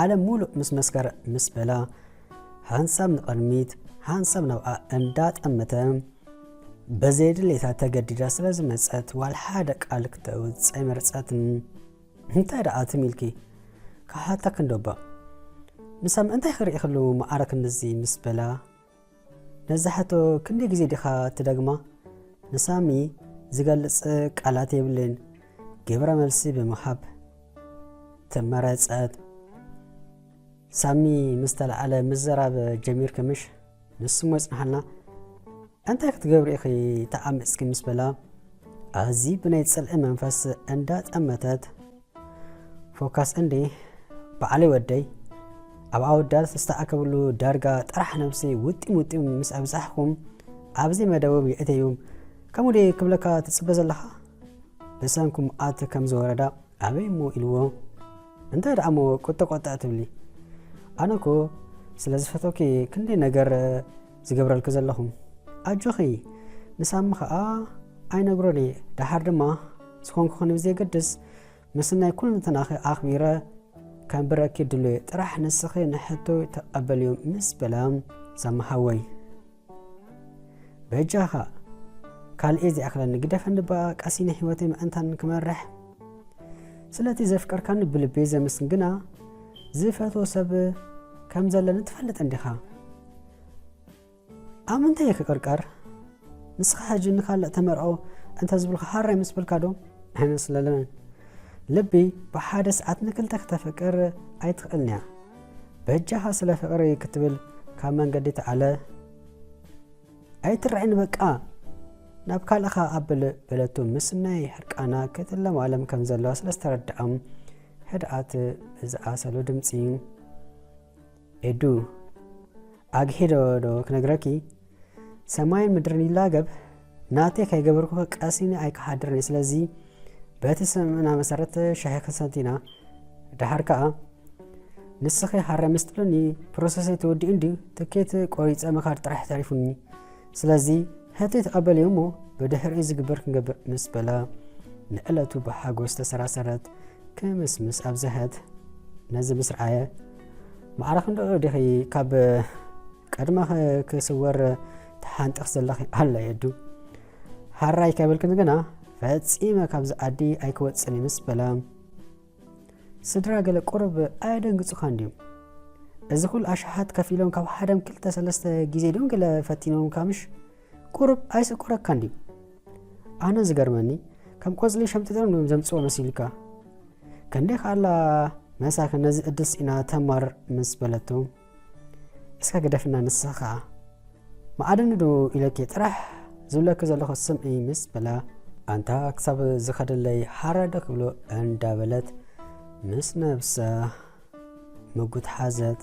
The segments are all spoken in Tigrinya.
ዓለም ሙሉእ ምስ መስከረ ምስ በላ ሓንሳብ ንቕድሚት ሓንሳብ ናብኣ እንዳጠመተ በዘየድሌታ ተገዲዳ ስለ ዝመፀት ዋል ሓደ ቃል ክተውፅ ኣይመረፀትን እንታይ ደኣ ትም ኢልኪ ክሓታ ክንዶባ ንሳ ምእንታይ ክርኢ ክልዉ መዓረ ክንድዚ ምስ በላ ነዛ ሕቶ ክንደይ ግዜ ዲኻ ትደግማ? ንሳሚ ዝገልጽ ቃላት የብለይን። ግብረ መልሲ ብምሃብ ተመረጸት። ሳሚ ምስ ተለዓለ ምዝራብ ጀሚርኪ ምሽ? ንሱሞ ይጽንሓልና እንታይ ክትገብሪ ኢኺ ተዓሚጽኪ ምስ በላ ኣዝዪ ብናይ ጽልኢ መንፈስ እንዳጠመተት ፎካስ እንዲ በዓለይ ወደይ ኣብ ኣወዳት ዝተኣከብሉ ዳርጋ ጥራሕ ነብሲ ውጢም ውጢም ምስ ኣብዛሕኹም ኣብዚ መደብም የእተዩም ከምኡ ደ ክብለካ ትፅበ ዘለኻ ብሰንኩም ኣት ከም ዝወረዳ ኣበይ እሞ ኢልዎ እንታይ ደኣ እሞ ቁጥቆጥዕ ትብሊ ኣነኮ ስለ ዝፈቶኪ ክንደይ ነገር ዝገብረልኪ ዘለኹ ኣጆኺ ምስ ኣሚ ኸኣ ኣይነግሮን እየ ደሓር ድማ ዝኾንኩኽኒ ብዘየገድስ ምስናይ ኩልንትናኺ ኣኽቢረ ከንብረኪ ድሉየ ጥራሕ ንስኺ ንሕቶይ ተቐበልዮ ምስ በላ ሳማሓወይ በጃኻ ካልኤ ዚኣኽለኒ ግደፈኒ በኣ ቀሲነ ህይወተይ ምእንታን ክመርሕ ስለቲ ዘፍቀርካኒ ብልቤ ዘምስን ግና ዝፈትዎ ሰብ ከም ዘለኒ ትፈልጥ እንዲኻ ኣብ ምንታይ እየ ክቅርቀር ንስኻ ሕጂ ንካልእ ተመርዖ እንተዝብልካ ሃራይ ምስ በልካ ዶ ኣይመስለንን ልቢ ብሓደ ሰዓት ንክልተ ክተፍቅር ኣይትኽእልን እያ በጃኻ ስለ ፍቅሪ ክትብል ካብ መንገዲ ተዓለ ኣይትርዕን በቃ ናብ ካልእኻ ኣብል በለቱ ምስ ናይ ሕርቃና ክትለማለም ከም ዘለዋ ስለ ዝተረድዖም ህድኣት ብዝኣሰሉ ድምፂ ኤዱ ኣግሒ ዶ ዶ ክነግረኪ ሰማይን ምድርን ይላገብ ናተይ ከይገበርኩ ቀሲኒ ኣይክሓድርን እዩ ስለዚ በቲ ስምምዕና መሰረት ሻሂ ክንሰቲና ድሓር ከዓ ንስኺ ሃረ ምስ ትብልኒ ፕሮሰሰይ ተወዲኡ እንዲ ትኬት ቆሪፀ ምኻድ ጥራሕ ተሪፉኒ ስለዚ ሕተይ ተቐበልዮ እሞ ብድሕሪኡ ዝግበር ክንገብር ምስ በላ ንዕለቱ ብሓጎስ ተሰራሰረት ክምስምስ ኣብዝሐት ነዚ ምስ ረኣየ ማዕረ ክንደኡ ዲኺ ካብ ቀድመ ክስወር ተሓንጥኽ ዘለኺ ኣላ የዱ ሃራይ ከብልክን ግና ፈጺመ ካብዚ ዓዲ ኣይክወፅን ምስ በላ ስድራ ገለ ቁርብ ኣየደንግፁኻ እንድዩ እዚ ኩሉ ኣሽሓት ከፊሎም ካብ ሓደም ክልተ ሰለስተ ግዜ ድም ገለ ፈቲኖም ካምሽ ቁሩብ ኣይስቁረካን ድዩ ኣነ ዝገርመኒ ከም ቆጽሊ ሸምጢጦም ድዮም ዘምጽዎ መሲልካ ከንደይ ከኣላ መሳኪን ነዚ እድል ስኢና ተማር ምስ በለቱ እስካ ግደፍና ንስኻ ከኣ መኣድኒ ዶ ኢለኪ ጥራሕ ዝብለኪ ዘለኹ ስምዒ ምስ በላ ኣንታ ክሳብ ዝኸደለይ ሓራደ ክብሎ እንዳበለት ምስ ነብሳ ምጉት ሓዘት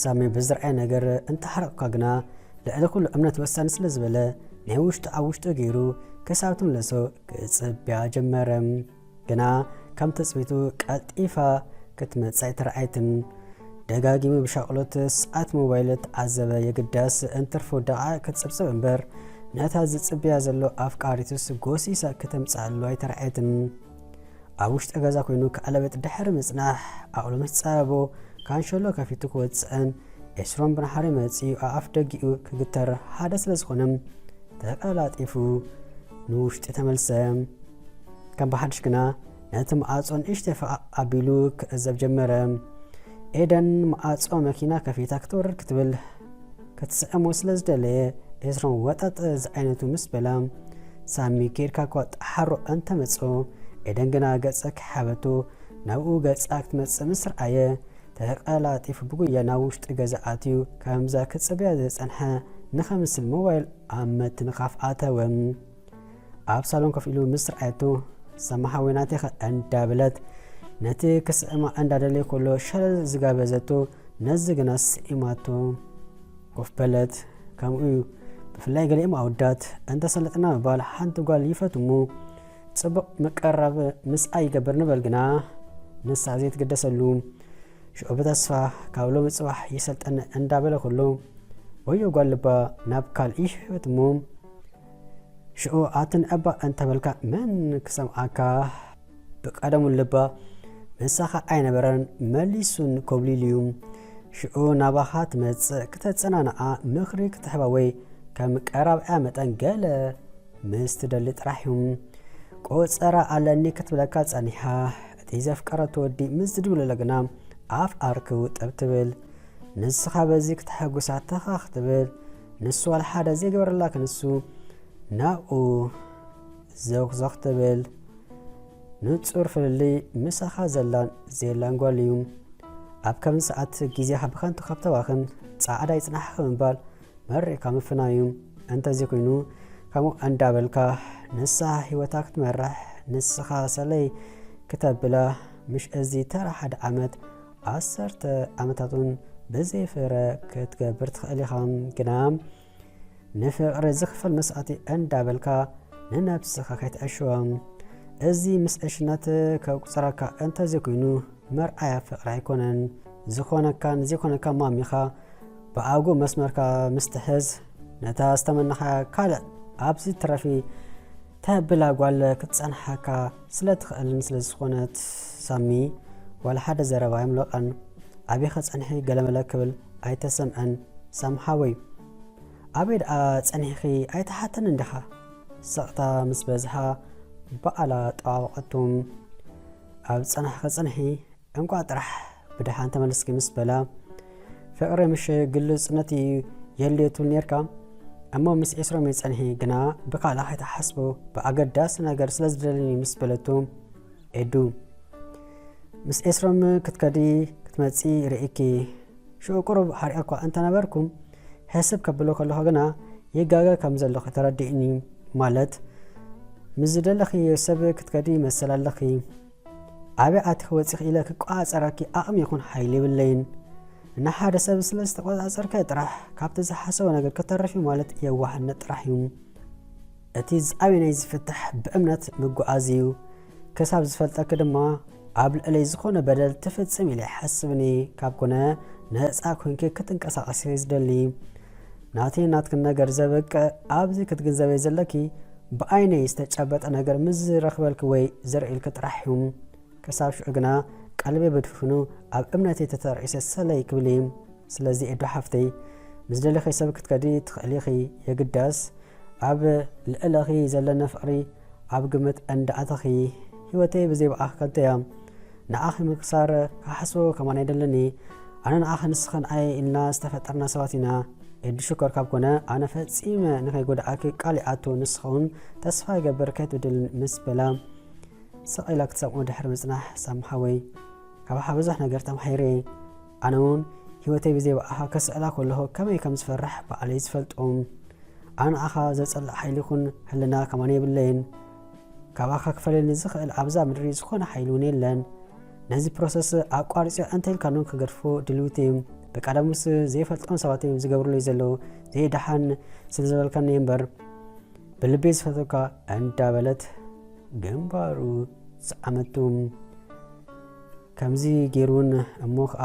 ሳሚ ብዝርኣየ ነገር እንተሓረቕካ ግና ልዕሊ ኩሉ እምነት ወሳኒ ስለ ዝበለ ናይ ውሽጡ ኣብ ውሽጡ ገይሩ ክሳብ ትምለሶ ክጽብያ ጀመረ ግና ከም ትጽቢቱ ቀልጢፋ ክትመጽእ ኣይተረኣየትን ደጋጊሙ ብሻቕሎት ሰዓት ሞባይል ተዓዘበ የግዳስ እንትርፎ ደቓ ክትጽብጽብ እምበር ነታ ዝጽብያ ዘሎ ኣፍቃሪቱስ ጎሲሳ ከተምጽኣሉ ኣይተረኣየትን ኣብ ውሽጢ ገዛ ኮይኑ ክኣለብጥ ድሕሪ ምጽናሕ ኣእሉ ምስ ጸበቦ ካንሸሎ ከፊቱ ክወጽእን ኤስሮም ብንሓሪ መጺኡ ኣኣፍ ደጊኡ ክግተር ሓደ ስለ ዝኾነ ተቀላጢፉ ንውሽጢ ተመልሰ። ከም ብሓድሽ ግና ነቲ መኣጾ ንእሽተ ፈቓቕ ኣቢሉ ክዕዘብ ጀመረ። ኤደን መኣጾ መኪና ከፊታ ክትወርድ ክትብል ክትስዕሞ ስለ ዝደለየ ኤስሮም ወጠጥ ዝዓይነቱ ምስ በላ ሳሚ ኬድካ እኳ ጠሓሮ እንተ መጹ ኤደን ግና ገጸ ከይሓበቱ ናብኡ ገጻ ክትመጽእ ምስ ረኣየ ተቐላጢፉ ብጉያ ናብ ውሽጢ ገዛ ኣትዩ ከምዛ ክጽበያ ዝጸንሐ ንኸምስል ሞባይል ኣብ ምትንኻፍ ኣተወ። ኣብ ሳሎን ኮፍ ኢሉ ምስ ረኣየቶ ሰማ ሓወይ ናቴኸ እንዳበለት ነቲ ክስዕማ እንዳደለየ ከሎ ሸለል ዝጋበዘቶ ነዚ ግና ስዒማቶ ኮፍ በለት ከምኡ እዩ ብፍላይ ገሊኦም ኣወዳት እንተሰለጥና ምባል ሓንቲ ጓል ይፈት እሞ ፅቡቕ ምቀራብ ምስኣ ይገብር ንበል ግና ንሳ ዘይትግደሰሉ ሽዑ ብተስፋ ካብ ሎሚ ፅባሕ ይሰልጠነ እንዳበለ ከሎ ወዮ ጓል ልባ ናብ ካልእ ይሕበት እሞ ሽዑ ኣትን እባ እንተበልካ መን ክሰምዓካ? ብቀደሙ ልባ ምሳኻ ኣይነበረን፣ መሊሱን ኮብሊሉዩ። ሽዑ ናባኻ ትመጽእ ክተጸናንዓ ምኽሪ ክትሕባ ወይ ከም ቀራብዕያ መጠን ገለ ምስ ትደሊ ጥራሕዩ። ቆጸራ ኣለኒ ክትብለካ ጸኒሓ እቲ ዘፍቀረቶ ወዲ ምስ ዝድውለለ ግና ኣፍ ኣርክቡ ጠብ ትብል። ንስኻ በዚ ክተሐጉሳ ተኸኽ ትብል። ንሱ ዋላ ሓደ ዘይገበረላ ክንሱ ናብኡ ዘውክዘኽ ትብል ንጹር ፍልልይ ምሳኻ ዘላን ዘየላን ጓል እዩ ኣብ ከምዚ ሰዓት ግዜኻ ብኸንቱ ካብ ተባኽን ጻዕዳ ይጽናሕኺ ምባል መሪቕካ ምፍናው እዩ እንተዚ ኮይኑ ከምኡ እንዳበልካ ንሳ ህይወታ ክትመራሕ ንስኻ ሰለይ ክተብላ ምሽ እዚ ተራ ሓደ ዓመት ዓሰርተ ዓመታት እውን ብዘይ ፍረ ክትገብር ትኽእል ኢኻ ግና ንፍቕሪ ዝኽፈል መስዋእቲ እንዳበልካ ንነብስኻ ከይትዕሽዋ እዚ ምስ ዕሽነት ከቁፅረካ እንተዘይኮይኑ መርኣያ ፍቕሪ ኣይኮነን ዝኾነካን ዘይኮነካ ማሚኻ ብኣጉ መስመርካ ምስትሕዝ ነታ ዝተመናኻ ካልእ ኣብዚ ትረፊ ተብላ ጓል ክትጸንሓካ ስለ ትኽእልን ስለ ዝኾነት ሳሚ ዋላ ሓደ ዘረባ ኣይምሎቐን ኣቤኸ ጸንሒ ገለመለ ክብል ኣይተሰምዐን ሳም ሓወይ ኣበይ ደኣ ጸኒሕኺ ኣይተሓተንን ዲኻ ስቕታ ምስ በዝሓ በኣላ ጠዋወቐቱ ኣብ ጸናሕኺ ጽንሒ እንቋዕ ጥራሕ ብደሓን ተመልስኪ ምስ በላ ፍቕሪ ምሽ ግልጽ ነቲ የድልዮ ትብል ኔርካ እሞ ምስ ዒስሮሜ ጸንሒ ግና ብካልእ ከይትሓስቦ ብኣገዳሲ ነገር ስለ ዝደለኒ ምስ በለቱ ኤዱ ምስ ዒስሮም ክትከዲ ክትመጺ ርእኪ ሽዑ ቁሩብ ሓሪቐ እኳ እንተነበርኩ ሕስብ ከብሎ ከለኹ ግና ይጋገ ከም ዘለኹ ተረዲእኒ ማለት ምስ ዝደለኺ ሰብ ክትከዲ መሰል ኣለኺ ኣበይ ኣቲኺ ወጺኺ ኢለ ክቆጻጸረኪ ኣቅሚ ይኹን ሓይሊ የብለይን ንሓደ ሰብ ስለ ዝተቆጻጸርከ ጥራሕ ካብቲ ዝሓሰቦ ነገር ክተርፍ እዩ ማለት የዋህነት ጥራሕ እዩ እቲ ዝኣበይ ናይ ዝፍታሕ ብእምነት ምጉዓዝ እዩ ክሳብ ዝፈልጠኪ ድማ ኣብ ልዕለይ ዝኾነ በደል ትፍጽም ኢለ ይሓስብኒ ካብ ኮነ ነፃ ኮንኪ ክትንቀሳቀሲ ዝደሊ ናተይ ናትክን ነገር ዘበቅዕ ኣብዚ ክትግንዘበይ ዘለኪ ብኣይነይ ዝተጨበጠ ነገር ምስ ዝረኽበልኪ ወይ ዘርእልኪ ጥራሕ እዩ። ክሳብ ሽዑ ግና ቀልበይ ብድፍኑ ኣብ እምነተይ ተተርዒሰ ሰለይ ክብል እዩ። ስለዚ ኤዱ ሓፍተይ ምስ ዝደለኺ ሰብ ክትከዲ ትኽእሊ ኢኺ፣ የግዳስ ኣብ ልዕለኺ ዘለኒ ፍቕሪ ኣብ ግምት እንዳኣተኺ። ህይወተይ ብዘይ ብኣኺ ከንቶ እያ። ንኣኺ ምብሳር ክሓስቦ ከማን ኣይደልን እየ ኣነ ንኣኺ ንስኽን ኣየ ኢልና ዝተፈጠርና ሰባት ኢና ኤዱ ሽኮር ካብ ኮነ ኣነ ፈጺመ ንኸይጎድኣኪ ቃል ይኣቱ ንስኸውን ተስፋ ይገብር ከይትብድልን ምስ በላ ስቕ ኢላ ክትሰምዖ ድሕሪ ምጽናሕ ሳም ሓወይ ካባኻ ብዙሕ ነገር ተማሂረ እየ ኣነ እውን ህይወተይ ብዘይ ብኣኻ ከስዕላ ከለኹ ከመይ ከም ዝፈርሕ በዓለይ ዝፈልጦም ኣነ ንኣኻ ዘጸልእ ሓይሊ ይኹን ህልና ከማን የብለይን ካባካ ክፈለኒ ዝክእል ኣብዛ ምድሪ ዝኮነ ሓይሊ ውን የለን ነዚ ፕሮሰስ ኣቋርጽዮ እንተ ኢልካ ን ክገድፎ ድልውቲ እም ብቀደሙስ ዘይፈልጦም ሰባት እም ዝገብርለይ ዘለው ዘይ ደሓን ስለ ዝበልካኒ እየ እምበር ብልበይ ዝፈተካ እንዳ በለት ግንባሩ ዝዓመቱ ከምዚ ገይሩን እሞ ከኣ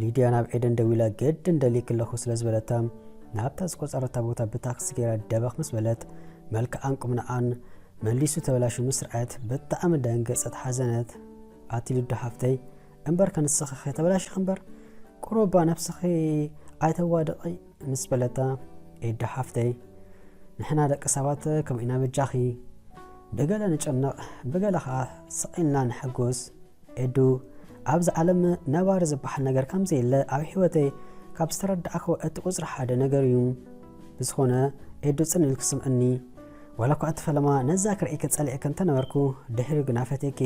ሊድያ ናብ ኤደን ደዊላ ገድን ደሊክ ኣለኹ ስለ ዝበለታ ናብታ ዝቆፀረታ ቦታ ብታክሲ ገይራ ደበኽ ምስ በለት መልክዓን ቁምንዓን መሊሱ ተበላሹ ምስ ርኣየት ብጣዕሚ ደንገፀት ሓዘነት ኣቲ ልዱ ሓፍተይ እምበር ከንስኺ ከተበላሽኺ እምበር ቁሩባ ነብስኺ ኣይተዋድቒ ምስ በለታ ኤዱ ሓፍተይ ንሕና ደቂ ሰባት ከምኡ ኢና በጃኺ ብገለ ንጨነቕ ብገለ ኸዓ ስቕ ኢልና ንሕጉስ ኤዱ ኣብዚ ዓለም ነባሪ ዝበሃል ነገር ከም ዘየለ ኣብ ሕይወተይ ካብ ዝተረዳእክዎ እቲ ቁፅሪ ሓደ ነገር እዩ ብዝኾነ ኤዱ ፅን ኢልኪ ስምዕኒ ዋላ እኳ እቲ ፈለማ ነዛ ክርእይኪ ፀሊእኪ እንተነበርኩ ድሕሪኡ ግና ፈትየኪ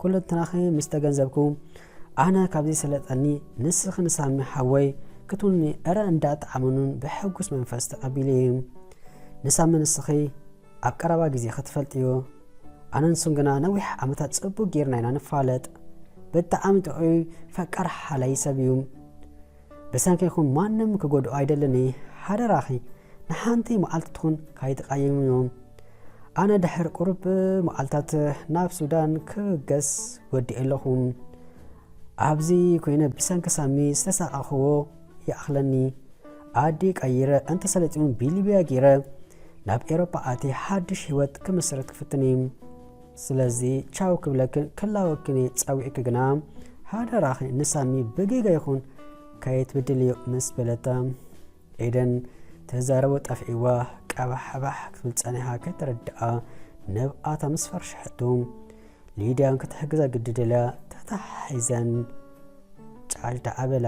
ኩሉ እንትናኺ ምስ ተገንዘብኩ ኣነ ካብ ዘይሰለጠኒ ንስኺ ንሳሚ ሓወይ ክትውንኒ እረ እንዳ ጣዓመኑን ብሕጉስ መንፈስ ተቀቢለየ ንሳሚ ንስኺ ኣብ ቀረባ ግዜ ክትፈልጥዮ ኣነ ንሱን ግና ነዊሕ ዓመታት ጽቡቅ ጌርና ኢና ንፋለጥ ብጣዓሚ ጥዑይ ፈቃር ሓላይ ሰብ እዩ ብሰንኪ ይኹን ማንም ክጎድኦ ኣይደልን እየ ሓደራኺ ንሓንቲ መዓልቲ ትኹን ካይተቓየሙ እዮም። ኣነ ድሕሪ ቁሩብ መዓልታት ናብ ሱዳን ክብገስ ወዲኤ ኣለኹ። ኣብዚ ኮይነ ብሰንኪ ሳሚ ዝተሳቐቕኽዎ ይኣኽለኒ። ኣዲ ቀይረ እንተሰለጢኑ ብሊብያ ጌረ ናብ ኤሮፓ ኣትየ ሓድሽ ህይወት ክምስርት ክፍትን እየ። ስለዚ ቻው ክብለክን ክላወክን እየ ጸዊዕኪ ግና ሓደራኺ ንሳሚ ብጌጋ ይኹን ካየትብድልዮ ምስ በለታ ኤደን ትዛረቦ ጠፊእዋ ቀባሕባሕ ክትብል ጸኒሓ ከይተረድኣ ነብኣታ ምስ ፈርሸሐቶ ሊድያ ክትሕግዛ ግዲ ደልያ ተታሓሒዘን ጫልታ ኣበላ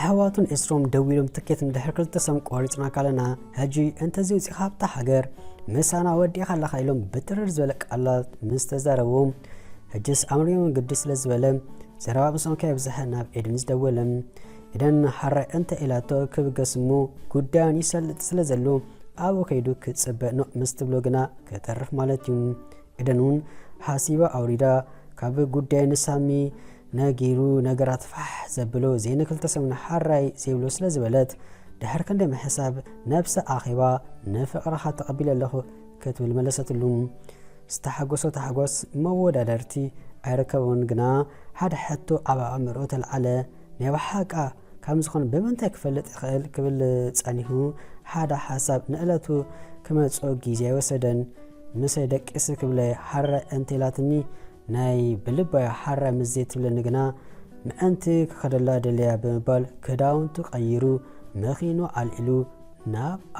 ኣሕዋቱን ዕስሮም ደው ኢሎም ትኬት ንድሕሪ ክልተ ሰም ቆሪፅና ካለና ሕጂ እንተዚ ውፅኢኻ ኣብታ ሃገር ምሳና ወዲእኻ ኣለኻ ኢሎም ብትርር ዝበለ ቃላት ምስ ተዛረቡ ሕጅስ ኣምሪዮን ግዲ ስለ ዝበለ ዘረባ ብሶም ከየብዝሐ ናብ ኤድን ዝደወለ ኢደን ሓራይ እንተ ኢላቶ ክብገስ እሞ ጉዳዮን ይሰልጥ ስለ ዘሉ ኣብኡ ከይዱ ክጽበ ኖእ ምስ ትብሎ ግና ክተርፍ ማለት እዩ። ኢደን እውን ሓሲባ ኣውሪዳ ካብ ጉዳዩ ንሳሚ ነጊሩ ነገራት ፋሕ ዘብሎ ዘይኒ ክልተ ሰሙን ሓራይ ዘይብሎ ስለ ዝበለት ድሕር ክንዲ ምሕሳብ ነብሳ ኣኼባ ንፍቕርኻ ተቐቢለ ኣለኹ ክትብል መለሰትሉ። ዝተሓጎሶ ታሕጎስ መወዳደርቲ ኣይርከቦን ግና ሓደ ሕቶ ኣብ ኣእምርኡ ተልዓለ። ናይ ብሓቃ ካም ዝኾን ብምንታይ ክፈልጥ ይኽእል ክብል ጸኒሁ ሓደ ሓሳብ ንእለቱ ክመጽኦ ግዜ ኣይወሰደን ምሰይ ደቂስ ክብለ ሓራይ እንተ ኢላትኒ ናይ ብልባያ ሓራይ ምስ ዘይትብለኒ ግና ምእንቲ ክኸደላ ደልያ ብምባል ክዳውንቱ ቀይሩ መኺኑ ኣልዒሉ ናብኣ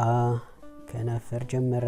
ከነፍር ጀመረ።